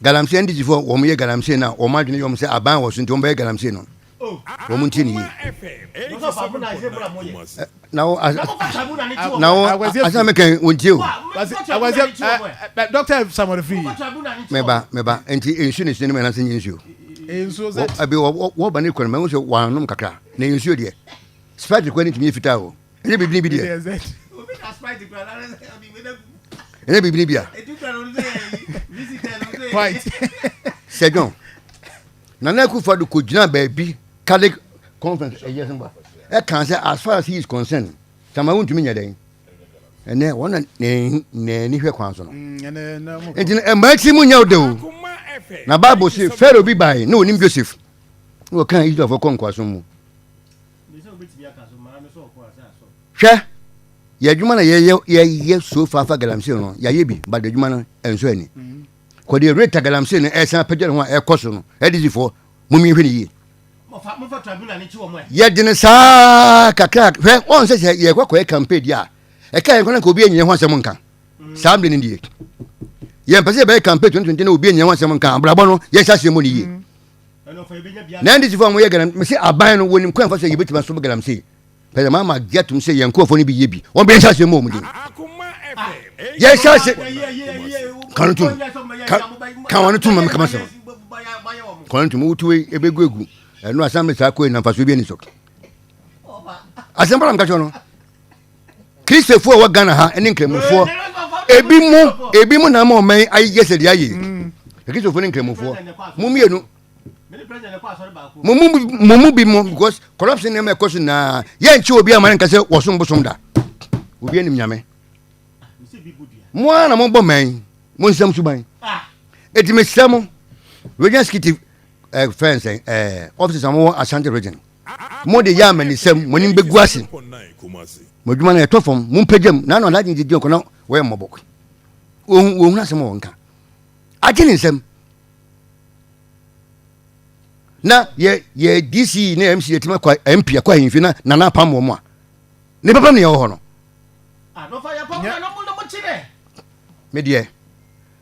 Galamsey Andigyefo wɔn yɛ Galamsey no a wɔn adwene yɛ wɔn sɛ aban wɔ so nti wɔn bɛyɛ Galamsey no wɔn ntie ne yie. na wo as na wo asɛm mi kan wɔn tie o. awɛsɛ ɛ dɔkita samori fi. mɛba mɛba nti nsu ne sinima na se nye nsuo. nsuo sɛ. ɛbi wɔ wɔ ba ne kɔn mɛ n sɛ wɔn anom kakra na nsuo deɛ spɛt kɔ ne tumi yɛ fitaa o. ɛnyɛ bibini bi deɛ ɛnyɛ bibini bi a sɛ dwɔn nana akufa do kɔgyina baabi catholic conference ɛyɛ sɛ ba ɛka sɛ as far as he is concerned sama wontumi nyɛ dɛn ɛnɛ wɔn na n'ani hwɛ kwan so no mm, nti mmaa ti mu nyɛ wo de o na bible se pharaoh bi bae na onim joseph na wɔka israelfoɔ kɔ nkoasom mu Hwɛ, yɛ adwuma na yɛyɛ yɛyɛ so fa fa galamsey no yɛayɛ bi ba de adwuma no ɛnsɔ ani kɔ deɛ rate galamsey no ɛsan apagya ne ho a ɛkɔ so no ɛdizifoɔ mo mmiɛnhwɛ ne yie yɛde no saa kakra hwɛ wɔn sɛ sɛ yɛkɔ akɔyɛ campaign di a ɛka yɛn kɔ na nka obi anyɛ ho asɛm nka saa mmiri no die yɛn pɛ sɛ yɛbɛyɛ campaign 2020 na obi anyɛ ho asɛm nka abrabɔ no yɛhyɛ aseɛ mu ne yie na ndcfoɔ a wɔyɛ galam mese aban no wɔnim kwan ɛfa so a yɛbɛtumi aso galamsey pɛsɛ maa ma gye atom sɛ yɛn nkurɔfoɔ no bi yɛ bi wɔn bɛyɛ hyɛ aseɛ mu wɔn din yɛ hyɛ ase ka no tom ka wɔn tom ma mekama sɛ kɔn no tom wotu wei ɛbɛgu egu ɛno asan mɛ saa kɔɛ na mfasoɔ bi ani so asɛm bɔra meka kyerɛ no kristafoɔ a wɔ ghana ha ne nkramofoɔ ebi mu ebi mu na ma ɔman yi ayɛ sɛ deɛ ayɛ kristafoɔ ne nkramofoɔ mo mmienu mo mu mo mu bi mo because corruption nneɛma ɛkɔ so nyinaa yɛnkye obi ama ne nka sɛ wɔsom bosom da obi anim nyame mo ara na mobɔ man yi mo nsɛm suban ɛti mesrɛ mo region executive eh, fɛn sɛn eh, offices a mowɔ ashanti region Mo de, yɛ amanyisɛm, mo anim begu ase, mo adwuma no ɛtɔ fam, mo mpagya mu, na ano ade agye gyegye ɔkɔ na wɔyɛ mmɔbɔ. Wɔn wɔn hunu asɛm a wɔn ka, agye ne nsam. Na yɛ yɛ DC na yɛ MC yɛ tuma kɔ MP akɔ ahemfie na nana apam wɔn a, ne papa mu na yɛ wɔ hɔ no. Nyɛ. Me deɛ.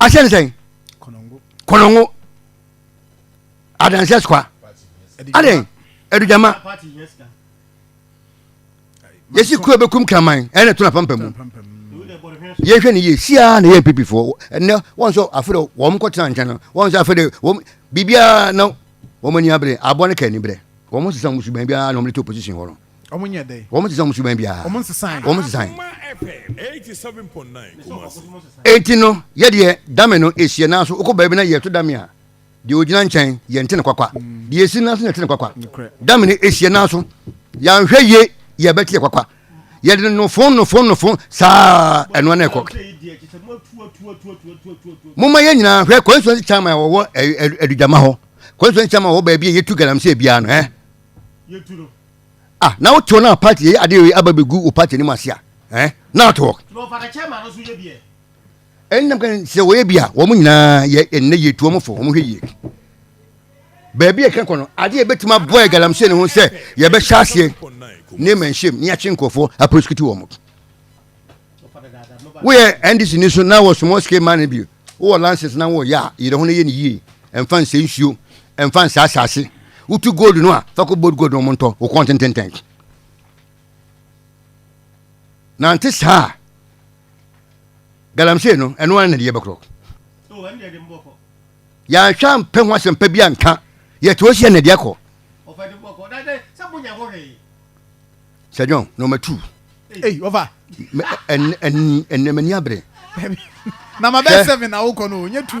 ahyɛ ne sɛn kɔnɔngo adanseɛ sukwa adɛn adugyama yɛsi kuo bɛkum kraman ɛna to na pampa mu yɛhwɛ ne yie siaa na yɛ mpipifoɔ ɛnɛ wɔn sɛ afei wɔn kɔtena nkyɛn no wɔn sɛ afei de wɔn biribiara na wɔn ani abere aboa no ka ani berɛ wɔn sesa wɔn suban biara na wɔn de to opposition hɔ no Wɔn nyɛ dɛn? Wɔn te sɛ wɔn suban biara. Wɔn nsesae. Wɔn nsesae. Enti no, yɛ deɛ dame no esie nanso wokɔ baabi na yɛto dame a, deɛ ogyina nkyɛn yɛnte ne kwakwa. Mm. Deɛ esi nanso na yɛte ne kwakwa. Dame no esie nanso yɛanhwɛ yie yɛbɛte yɛ kwakwa. Yɛde no nofon nofon nofon saa ɛnoa na ɛkɔ. Momma yɛn nyinaa hwɛ constituency chairman a wɔwɔ adudama hɔ constituency chairman a wɔwɔ baabi a yɛtu galamsey biara no ɛ. yɛtu no. ah na wo tɔ na party yɛ ade yɛ aba bɛ gu wo party anim ase a eh na to work. tuma ɔfa ka kyɛ ma no so yɛ biɛ. ɛn nam kan sɛ wɔyɛ bi a wɔn nyinaa yɛ ɛnɛ yɛ tuo mo fo wɔn hwɛ yie baabi yɛ kan kɔ no ade yɛ bɛtuma bɔ yɛ galamsey ne ho sɛ yɛ bɛ hyɛ aseɛ ne mɛ nhyɛm ne yɛakye nkurɔfoɔ aprosikiti wɔn mo woyɛ ndc ni so na wɔ sumɔ sike ma ne bio Wowɔ lances na wɔyɛ a, yere ho na yɛ no yie. Mfa nsɛe nsuo, mfa nsɛe asase. Wotu gold no a, fa kɔ bold gold na wɔntɔ, wo kɔn tententen. Nante saa a, galamsey no, ɛno ara na deɛ bɛkorɔ. Yɛanhwɛ ampɛ ho asɛmpa bi anka, yɛte hɔ hyia na deɛ kɔ. Sɛ John na ɔma tu. Ei ɔfa. Ɛnɛ m'ani abere. Na ma bɛ seven na wokɔ no, nye two.